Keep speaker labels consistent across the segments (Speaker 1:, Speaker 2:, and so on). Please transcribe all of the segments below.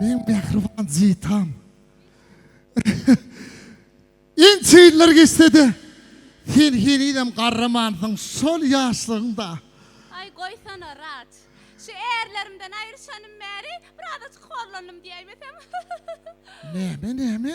Speaker 1: Meň mähriban Zitam. Ençe ýyllar geçse-de, sen henizem garramansyň, şol ýaşlygyňda. Aý, goýsana, Raç. Şu ärlerimden aýryşanym bäri biraz-aç horlandym diýäýmesem. Näme, näme?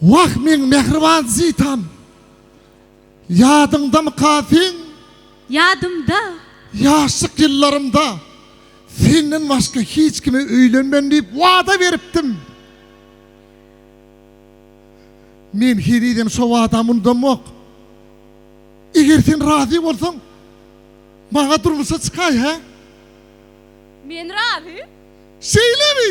Speaker 1: Wah meň mähriban Zitam! Ýadyňdamyka seň? Ýadymda! Ýaşlyk ýyllarymda senden başga hiç kime öýlenmen diýip wada beripdim. Men henizem şo wadamy unudamok. Eger sen razy bolsaň, maňa durmuşa çykaý, hä? Men razy. Şeýlemi?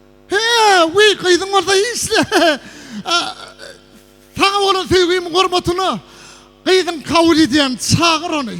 Speaker 1: He, wiý, gyzyň bolsa işle. Saňa bolan söýgimiň hormatyna gyzyň kabul edýän, çagyr ony.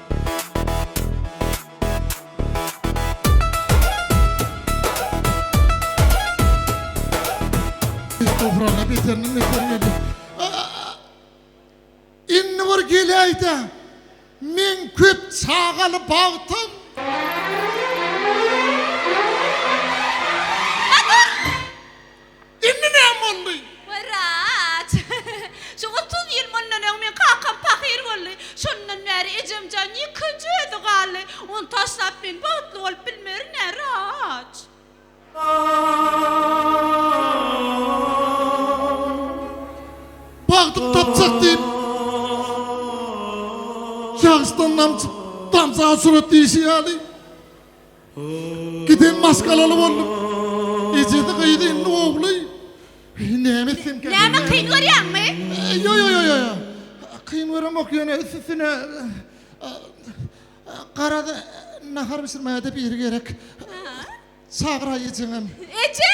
Speaker 1: Dograna beteriniň beter geldi. Indi bir geleýde. Men köp çagaly bagtam. Indi näme boldy? Wraç. Şu otuz ýyl mundan öň meň kakam pahyr boldy. Şondan bäri ejemjan ýekeje özi galdy. Ony taşlap men bagtly bolup bilmerin-ä, wraç. Bagtym tapjak diýip, ýagyşdan damjyp, damja surat diýşi ýaly. Giden maşgalaly boldum. Ejesi gyzy indi ogly. Näme etsem käk. Näme kyn görýäňmi? Ýo ýo ýo ýo. Kyn göremok ýöne üst üstüne garaz nahar bişirmäge-de biri gerek. Çagyraý ejeňem. Eje!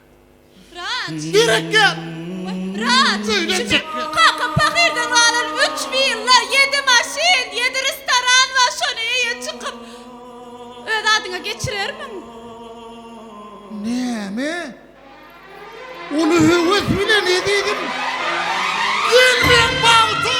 Speaker 1: Raç! Derek ýat! Raç! Öýden çyk! Kaka pahyrdan galan üç willa, ýedi maşyn, ýedi restoran bar, şony eýe çykyp, öz adyňa geçirermiň? Näme? Ony höwes bilen ezizim! Gelmeň bagta!